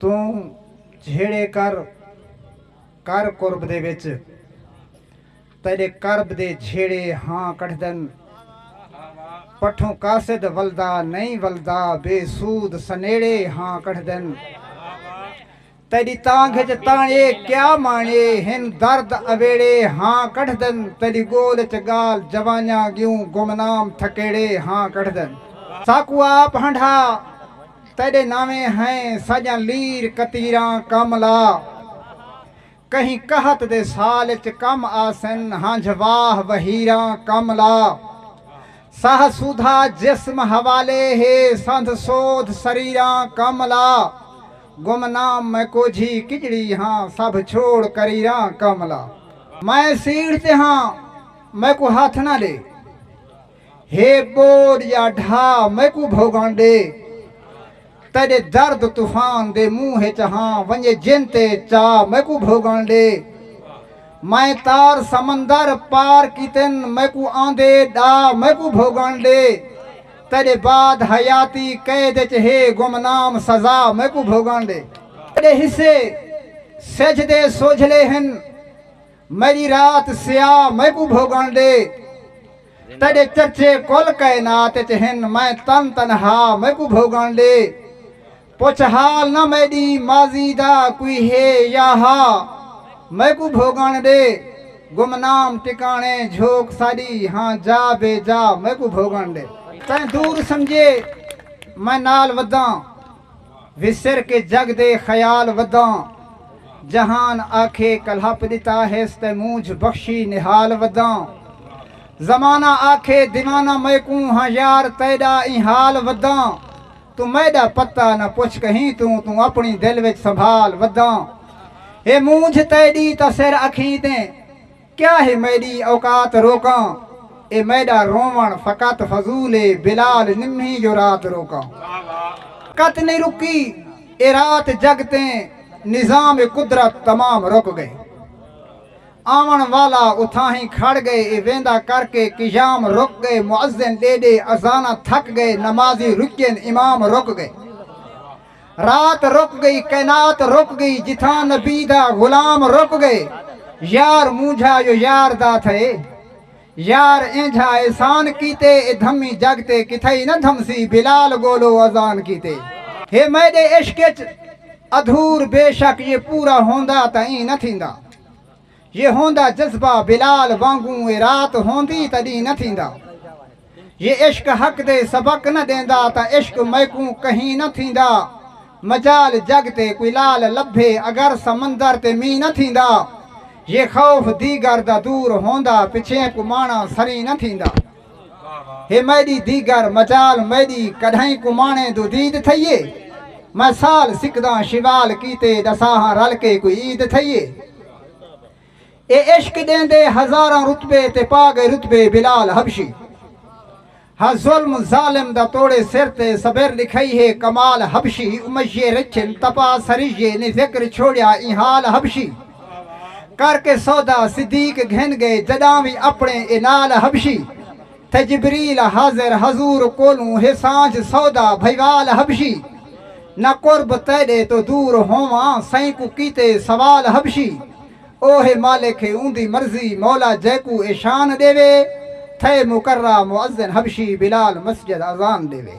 توں جھیڑے کر کر قرب دے وچ تیݙے قرب دے جھیڑے ہاں کڈھدن پٹھوں قاصد ولدا نئیں ولدا بے سود سنیڑے ہاں کڈھدن تیݙی تانگھ اچ تاݨے کیا ماݨے ہن درد اویڑے ہاں کڈھدن تیݙی ڳول اچ ڳال جوانیاں ڳیوں گمنام تھکیڑے ہاں کڈھدن ساکوں آپ ہنڈھا تیݙے ناویں ہیں سڄݨ لیر کتیراں کم لا کہیں قحط دے سال اچ کم آسن ہنجھ واہ وہیراں کم لا ساہ سودھا جسم حوالے ہے سندھ سودھ سریراں کم لا گم نام میں کوجھی کڄڑی ہاں سبھ چھوڑ کریراں کم لا میں سیڑھ تے ہاں میکوں ہتھ نہ ݙے۔ ہے ٻوݙ یا ڈھا میکوں بھوڳݨ ݙے تیݙے درد طوفان دے منہ ءچ ہاں ونڄے جن تے چا میکوں بھوڳݨ ݙے میں تار سمندر پار کیتن میکوں آندے ݙا میکوں بھوڳݨ ݙے تیݙے بعد حیاتی قید ءچ ہے گمنام سزا میکوں بھوڳݨ ݙے۔ تیݙے حصے سجھ دے سوجھلے ہن میڈی رات سیاہ میکوں بھوگن ڈے تیڈے چرچے کل کائنات اچ ہن میں تن تنہا میکوں بھوگن ڈے پچھ حال نہ میڈی ماضی دا کوئی ہے یا ہا میکوں بھوگن ڈے گمنام ٹکانے جھوک ساڈی ہاں جا بے جا میکوں بھوگن ڈے تیں دور سمجھے میں نال وداں وسر کے جگ دے خیال وداں جہان آکھے کلہپ ݙتا ہیس تیں مونجھ بخشی نہال وداں زمانہ آکھے دیوانہ میکوں ہاں یار تیݙا ایں حال وداں توں میݙا پتہ نہ پچھ کہیں توں توں اپݨی دل وچ سنبھال وداں اے مونجھ تیݙی تاں سر اکھیں تیں کیا ہے میݙی اوقات روکاں اے میݙا رووݨ فقط فضول اے بلال نمہیں جو رات روکاں قط نئیں رکی اے رات جگ تے نظام قدرت تمام رک ڳئے آوݨ والا اتھاہیں کھڑ ڳئے اے ویندا کر کے قیام رک ڳئے مؤذن ݙے ݙے اذاناں تھک ڳئے نمازی رڄین امام رک ڳئے رات رک گئی کائنات رک گئی جتھاں نبی دا غلام رک گئے یار مونجھا یو یار دا تھئے یار اینجھا احسان کیتے اے دھمی جگ تے کتھائی نہ دھمسی بلال گولو اذان کیتے ہے میڈے عشق اچ ادھور بے شک یہ پورا ہوندا تاں ایں نہ تھیندا۔ یہ ہوندا جذبہ بلال وانگوں اے رات ہوندی تاں ݙینہہ نہ تھیندا یہ عشق حق دے سبق نہ ݙیندا تاں عشق میکوں کہیں نہ تھیندا مجال جڳ تے کوئی لال لبھے اگر سمندر تے مینہہ نہ تھیندا یہ خوف دیگر دا دور ہوندا پچھیں کوں ماݨا سریں نہ تھیندا۔ ہے میڈی دیگر مجال میڈی کڈھائیں کمانے دو دید تھئیے میں سال سکداں شوال کیتے دساہاں رل کے کوئی عید تھئیے اے عشق دیندے ہزاراں رتبے تے پا گئے رتبے بلال حبشی ہا ظلم ظالم دا توڑے سر تے صبر لکھئی ہے کمال حبشی امیے رچن تپا سریے نے ذکر چھوڑیا ای حال حبشی کر کے سودا صدیق گھن گئے جڈاں وی اپنے اے نال حبشی تھے جبریل حاضر حضور کولوں ہے سانجھ سودا بھئیوال حبشی نہ قرب تیڈے توں دور ہوواں سئیں کوں کیتے سوال حبشی او ہے مالک ہے اوندی مرضی مولا جیکوں اے شان ڈیوے تھے مقرہ مؤذن حبشی بلال مسجد اذان ڈیوے۔